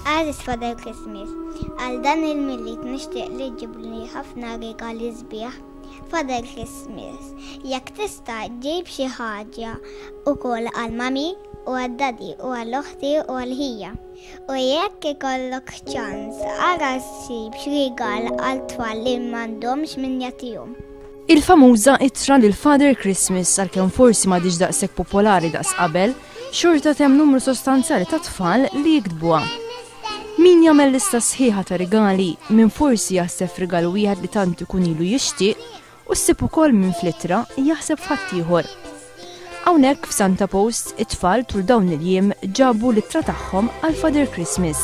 Għażiż Father Christmas, għal dan il-Milied nixtieq li ġġibli ħafna rigali sbieħ. Father Christmas, jekk tista' ġib xi ħaġa wkoll għal Mummy u għad-Daddy u għal oħti u għal ħija. U jekk ikollok ċans, ara ssib x'rigal għal tfal li m'għandhomx min jagħtihom. Il-famuża ittra lil Father Christmas għalkemm forsi m'għadhiex daqshekk popolari daqs qabel, xorta temm numru sostanzjali ta' tfal li jiktbuha. Min jagħmel lista sħiħa ta' rigali, min forsi jaħseb f'rigal wieħed li tant ikun ilu jixtieq, u ssib ukoll min fl-ittra jaħseb f'ħaddieħor. Hawnhekk f'Santa Post, it-tfal tul dawn il-jiem ġabu l-ittra tagħhom għal Father Christmas.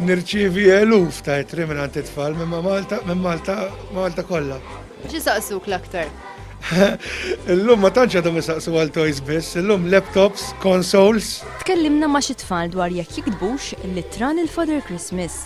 Nirċievi eluf ta' ittri minn għand it-tfal minn Malta minn Malta Malta kollha. Xi saqsuk l-aktar? Illum ma tantx għadhom isaqsu għal toys biss, illum laptops, consoles. Tkellimna ma' xi tfal dwar jekk jiktbux l-ittra lil Father Christmas.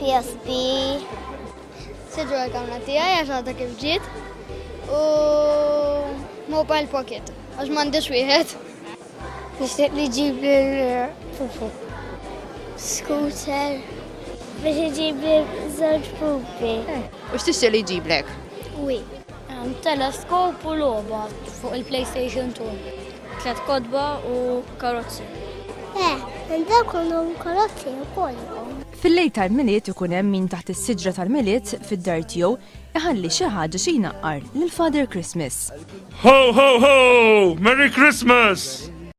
PSP. Sidru għal-kamra tijaj, għax għadha kif ġiet. U mobile pocket, għax mandiġ wieħed. Nishtiq li ġib il-pupu. Scooter. Biex iġib il-żewġ pupi. U x'tixtieq li jġiblek? Wi. Teleskop u logħba fuq il-PlayStation 2. Tliet kotba u karozzi. Eh, hemm dawk għandhom karozzi wkoll. Fil-lejl tal-Milied ikun hemm min taħt is-siġra tal-Milied fid-dar tiegħu iħalli xi ħaġa xi jnaqqar lil Father Christmas. Ho ho ho! Merry Christmas!